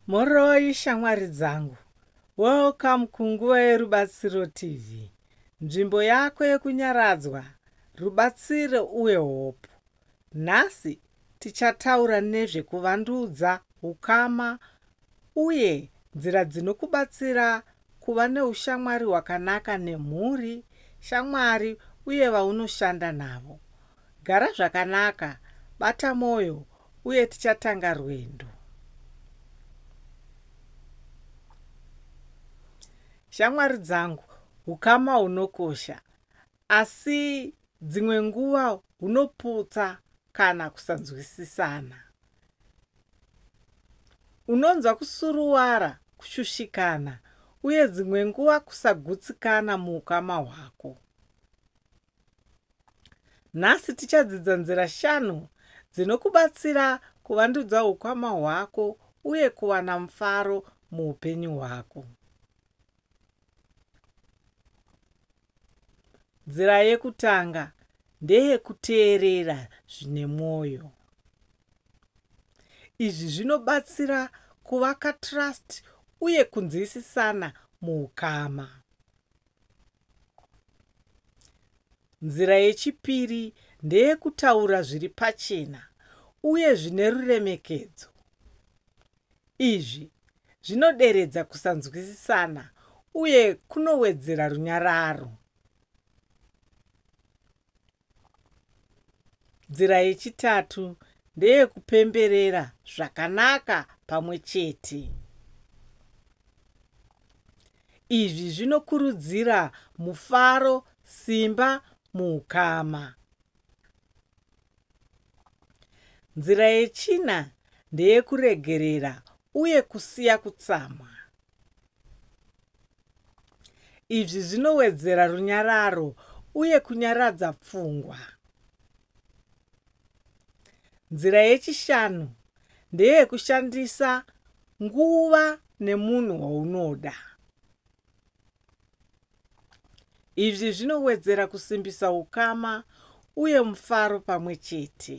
Moroi shamwari dzangu. Welcome kunguva yerubatsiro TV. Nzvimbo yako yekunyaradzwa, rubatsiro uye hope. Nhasi tichataura nezve kuvandudza ukama uye nzira dzinokubatsira Kuva neushamwari hwakanaka nemhuri, shamwari, uye vaunoshanda navo. Gara zvakanaka, bata mwoyo, uye tichatanga rwendo. Shamwari dzangu, ukama hunokosha. Asi dzimwe nguva hunoputsa kana kusanzwisisana. Unonzwa kusuruwara, kushushikana uye dzimwe nguva kusagutsikana muukama hwako. Nhasi tichadzidza nzira shanu dzinokubatsira kuvandudza ukama hwako uye kuwana mufaro muupenyu hwako. nzira yekutanga ndeyekuteerera zvine mwoyo izvi zvinobatsira kuvaka trust uye kunzwisisana muukama Nzira yechipiri ndeyekutaura zviri pachena uye zvine ruremekedzo. Izvi zvinoderedza kusanzwisisana uye kunowedzera runyararo. Nzira yechitatu ndeyekupemberera zvakanaka pamwe chete. Izvi zvinokurudzira mufaro, simba muukama. Nzira yechina ndeyekuregerera uye kusiya kutsamwa. Izvi zvinowedzera runyararo uye kunyaradza pfungwa. Nzira yechishanu ndeyekushandisa nguva nemunhu waunoda. Izvi zvinowedzera kusimbisa ukama uye mufaro pamwe chete.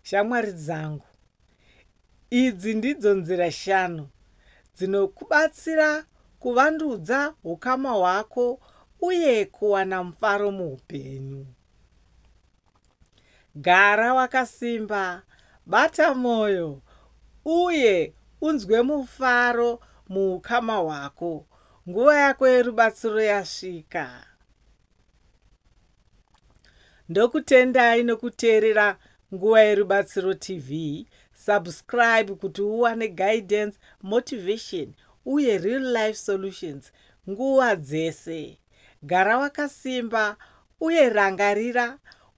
shamwari dzangu idzi ndidzo nzira shanu dzinokubatsira kuvandudza ukama hwako uye kuwana mufaro muupenyu gara wakasimba bata mwoyo uye unzwe mufaro muukama hwako nguva yako yerubatsiro yasvika ndokutendai nokuteerera nguva yerubatsiro tv subscribe kuti uwane guidance motivation uye real life solutions nguva dzese gara wakasimba uye rangarira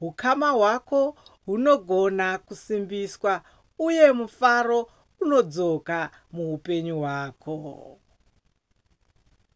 ukama hwako hunogona kusimbiswa uye mufaro unodzoka muupenyu hwako